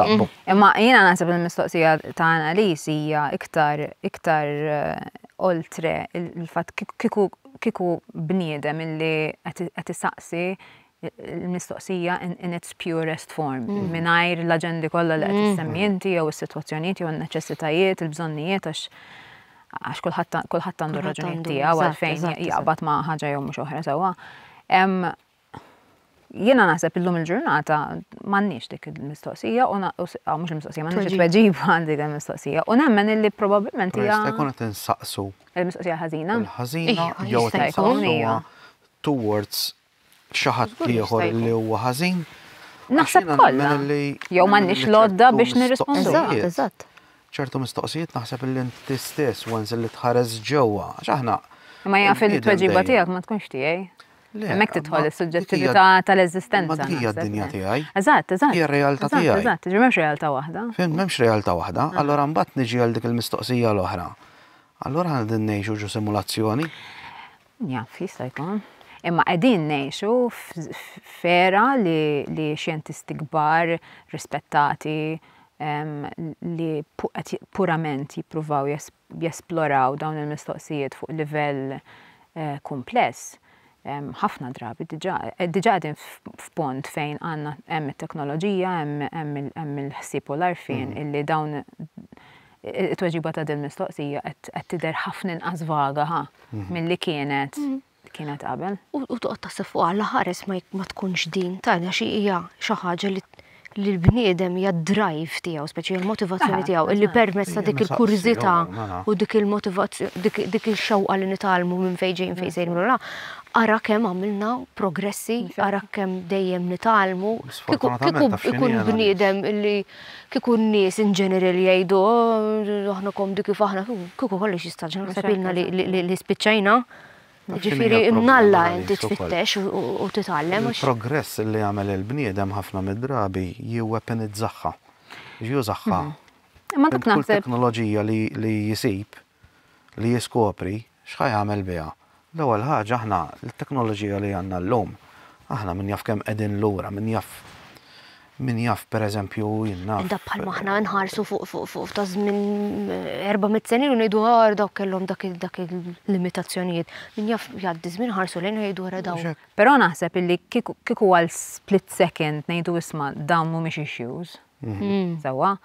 Imma jiena naħseb il-mistoqsija ta' analiż hija iktar iktar eh, oltre il-fatt kiku bniedem illi qed isaqsi il-mistoqsija in its purest form, mm. mingħajr l-aġendi kollha li qed mm. issemmi inti jew is-sitwazzjonijiet jew n-neċessitajiet, il-bżonnijiet għax għax kulħadd għandu raġunijiet tiegħu għalfejn jaqbad ma' ħaġa jew mhux oħra sewwa. Jiena naħseb illum il-ġurnata m'għandniex dik il-mistoqsija u mhux il-mistoqsija m'għandniex it-tweġib għal dik il-mistoqsija. U nemmen illi probabbilment hija. Jista' jkun qed insaqsu. Il-mistoqsija ħażina. Il-ħażina jew qed insaqsu towards xi ħadd ieħor li huwa ħażin. Naħseb kollha. Jew m'għandniex l-għodda biex nirrispondu. Eżatt, eżatt. ċertu mistoqsijiet naħseb li inti stess once li tħares ġewwa, għax aħna. Ma jaf il-tweġiba tiegħek ma tkunx tiegħi. Hemmhekk tidħol is-suġġettività tal-eżistenza. Ma hija d-dinja tiegħi. Eżatt, eżatt. Hija r-realtà tiegħi. Eżatt, ġi m'hemmx realtà waħda. Fim, m'hemmx realtà waħda, ah. allora mbagħad niġi għal dik il-mistoqsija l-oħra. Allora għandin ngħixu ġu simulazzjoni. Jaf, jista' jkun. Imma qegħdin ngħixu f'era li, li xjentisti kbar, rispettati, um, li pu, purament jippruvaw jesploraw dawn il-mistoqsijiet fuq livell uh, kumpless ħafna drabi diġa, eh, diġa għadin f'pont fejn għanna hemm it-teknoloġija, hemm il-ħsieb u l-arfin mm. illi dawn It-tweġiba ta' dil-mistoqsija qed tidher ħafna inqas vaga, ħa, milli kienet kienet qabel. U toqgħod taħseb fuq għal ħares ma tkunx din tajna xi hija xi ħaġa li li l-bniedem hija d-drive tiegħu, speċi l-motivazzjoni ah, tiegħu, illi permezz ta' dik il-kurżità u dik il-motivazzjoni, dik il-xewqa li nitalmu minn fejn ġejjin fejn sejrin la, ara kemm għamilna progressi, ara kemm dejjem nitalmu, kieku ikun bniedem illi Kieku n-nies in general jgħidu oh, aħna komdi kif aħna, kieku kollox jistaġna naħseb ilna li spiċċajna. Ġifieri mnalla inti tfittex u titgħallem. Il-progress li jagħmel il-bniedem ħafna mid-drabi jiwepenizzaħħa. Jużaħħa. Imma dak naħseb. Teknoloġija li jisib li jiskopri x'ħa jagħmel biha. L-ewwel ħaġa aħna t-teknoloġija li għandna llum, aħna min jaf kemm qegħdin lura, min jaf min jaf pereżempju jien naf. Dak bħalma aħna nħarsu fuq fuq fuq ta' żmien 400 sen ilu ngħidu għar dawk kellhom dak dak il-limitazzjonijiet. Min jaf jgħaddi żmien ħarsu lejn jgħidu wara dawn. Però naħseb illi kieku għal split second ngħidu isma' dawn mhumiex issues. Mhm. Sawa,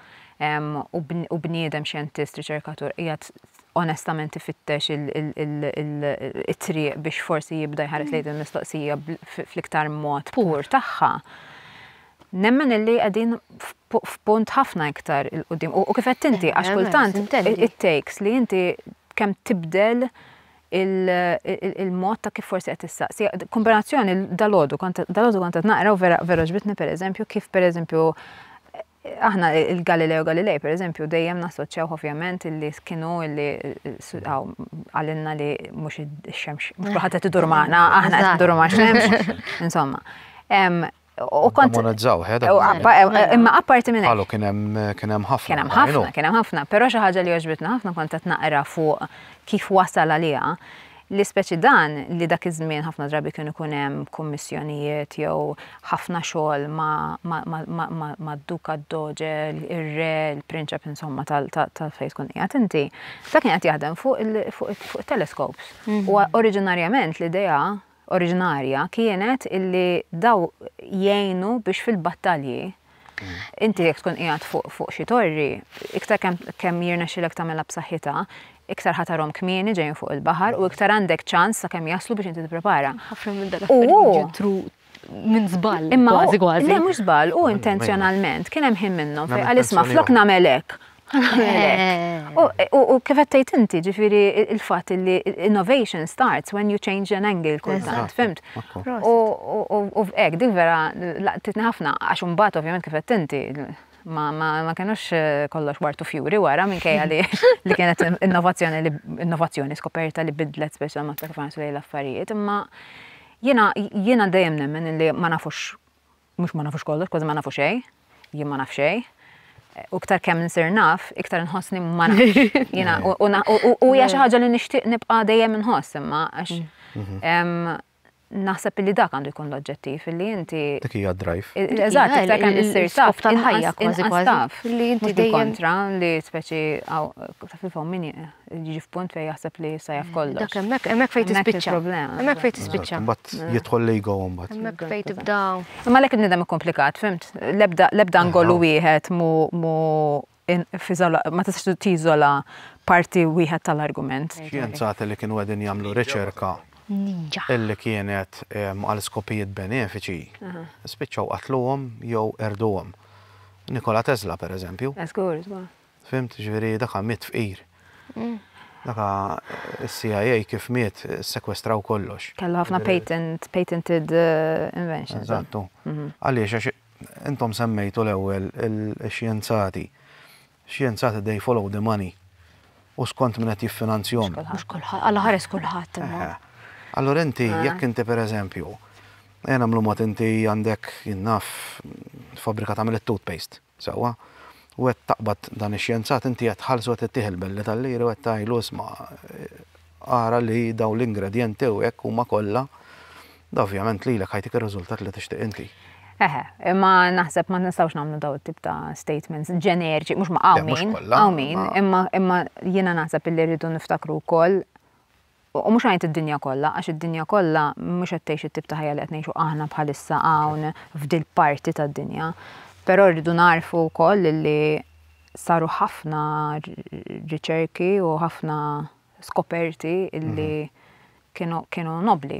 u bniedem xjentist, riċerkatur, jgħat onestament ifittex il-triq biex forsi jibda jħares lejn il-mistoqsija fl-iktar mod pur tagħha. Nemmen illi għadin f'punt ħafna iktar il-qudiem. U kif qed tinti, għax kultant it-takes li inti kemm tibdel il-mod ta' kif forsi qed issaqsi. Kombinazzjoni dal-għodu, dal-għodu kont qed naqra u vera vera ġbitni pereżempju kif pereżempju aħna il-Galileo Galilei pereżempju dejjem nassoċjaw ovvjament illi kienu illi għalinna li mhux ix-xemx mhux ħadd qed idur magħna, aħna qed idur ma' xemx, insomma. U kont. Monetizzaw, ħeda. Imma apparti minn. Għalu kien hemm ħafna. Kien hemm ħafna, kien hemm ħafna, però xi ħaġa li għoġbitna ħafna kont qed naqra fuq kif wasal għaliha li speċi dan li dak iż-żmien ħafna drabi kienu kun hemm kummissjonijiet jew ħafna xogħol ma' duka d-doġe, ir-re, il-prinċep insomma tal-fejn tkun qiegħed inti. Ta' kien qed jaħdem fuq il-teleskops. Mhm. U oriġinarjament l-idea oriġinarja kienet illi daw jgħinu biex fil-battalji mm. inti jekk tkun qiegħed fuq fuq xi torri, iktar kemm kemm jirnexxilek tagħmilha b'saħħitha, iktar ħatarhom kmieni ġejjin fuq il-baħar u iktar għandek ċans sa kemm jaslu biex inti tipprepara. Ħafna minn dak ġitru minn żball. Imma kważi kważi. Le mhux żball, u intenzjonalment kien hemm ħin minnhom fejn għal isma' flok nagħmel hekk. U kif għattajt inti, ġifiri il-fat li innovation starts when you change an angle kultant, fimt? U ek, dik vera laqtitni ħafna, għax unbat ovvijament kif għattajt inti, ma kienux eh, kollox wartu fjuri wara minn kajja li li kienet innovazzjoni li innovazzjoni skoperta li bidlet speċjal ma kif għansu l-affarijiet, imma jena jena dejjem nemmen li ma nafux Mhux ma nafux kollox, kważi ma nafu xejn. Jien ma naf xejn. U iktar kemm insir naf, iktar nħossni ma nafx. U hija xi ħaġa li nixtieq nibqa' dejjem inħoss imma għax mhm. naħseb li dak għandu jkun l-oġġettiv li inti. Dik hija drive. Eżatt, iktar kemm insir taf tal-ħajja kważi kważi. Li inti dejjem kontra li speċi fil-fom min Jiġi f'punt fejn jaħseb li sa jaf kollox. Dak hemmhekk, hemmhekk fejn tispiċċa. Hemmhekk fejn tispiċċa. Mbagħad mm. jidħol l-ego mbagħad. Hemmhekk fejn tibda. Imma lek nidem ikkomplikat, fimt? L-ebda ngolu wieħed mu ma tistax tiżola parti wieħed tal-argument. Xjenzati li kienu qegħdin jagħmlu riċerka illi kienet għal skopijiet benefiċi, spiċċaw qatluhom jew erduhom. Nikola Tesla, per eżempju. Eskur, eh, Fhimt, jiġifieri daka miet fqir. Daka is-CIA kif miet ssekwestraw kollox. Kellu ħafna patent, patented inventions. Eżattu. Għaliex għax intom semmejtu l-ewwel ix-xjenzati. Xjenzati they follow the money u skont min qed jiffinanzjahom. Mhux kulħadd, Alla ħares kulħadd imma. Allura inti jekk inti pereżempju, ejja nagħmlu mod inti għandek jien naf fabbrika tagħmel it-toothpaste. Sewwa. U qed taqbad dan ix-xjenzat, inti qed tħallsu qed ittih il-belli tal-liri u qed tgħidlu isma' ara li dawn l-ingredjenti u hekk huma kollha, da ovvjament lilek ħajtik ir-riżultat li tixtieq inti. Eħe, imma naħseb ma nistgħux nagħmlu dawn it-tip ta' statements ġeneriċi, mhux ma hawn min, hawn min, imma jiena naħseb li rridu niftakru wkoll U mhux ngħid id-dinja kollha, għax id-dinja kollha mhux qed tgħix it-tip ta' ħajja li qed ngħixu aħna bħalissa hawn f'dil-parti tad-dinja. Però rridu nagħrfu wkoll li saru ħafna riċerki u ħafna skoperti li kienu kienu nobbli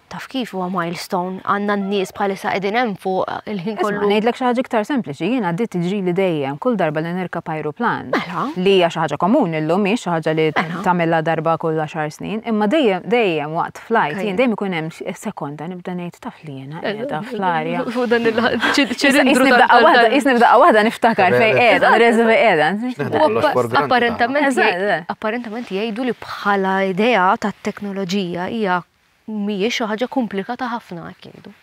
Taf kif huwa milestone, għandna n-nies bħalissa qegħdin hemm fuq il-ħin kollu. Isma' ngħidlek xi ħaġa iktar sempliċi, jien għaddiet tiġrili dejjem kull darba li nirkab ajruplan. Mela. Li hija xi ħaġa komuni llum mhix xi ħaġa li mela. tagħmilha darba kull għaxar snin, imma dejjem dejjem waqt flajt jien dejjem ikun hemm sekonda nibda ngħid taf li jiena eh, qiegħda fl-arja. Fuq dan il-ċilindru Isni b'daqqa waħda niftakar fejn qiegħda, nreżu fejn qiegħda. Apparentament apparentament jgħidu li bħala idea tat-teknoloġija hija mhijiex xi ħaġa komplikata ħafna hekk jgħidu.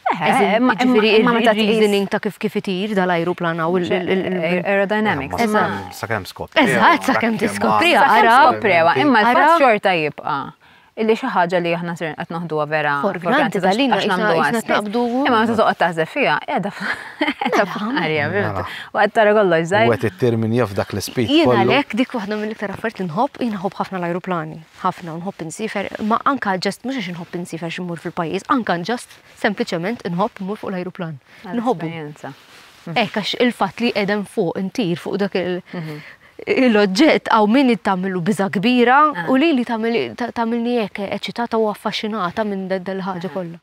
Imma meta reasoning ta' kif kif itir dal-ajruplan hawn il-aerodynamics. Eżatt. Sakemm skopri. Eżatt, sakemm tiskopri. Ara, prewa, imma ara xorta jibqa' illi xi ħaġa li aħna sir qed noħduha vera. Forgranti tal-lina għax nagħmlu għastabdu. Imma meta toqgħod taħseb fiha, qiegħda f'ħarja, vera. U qed tara kollox żgħir. Wet it-termin jaf dak l-ispit. Jiena għalhekk dik waħda mill-iktar affarijiet li nħobb, jien nħobb ħafna l-ajruplani. ħafna u nħobb insiefer, imma anka ġast mhux għax inħobb insiefer xi mmur fil-pajjiż, anka ġast sempliċement inħobb immur fuq l-ajruplan. Nħobbu. Hekk għax il-fatt li qegħdem fuq intir fuq dak il- mhm. l-oġġett għaw min tagħmilu biża kbira ah. u li li tagħmilni hekk eċitata u affaxxinata minn dal-ħaġa ah. kollha.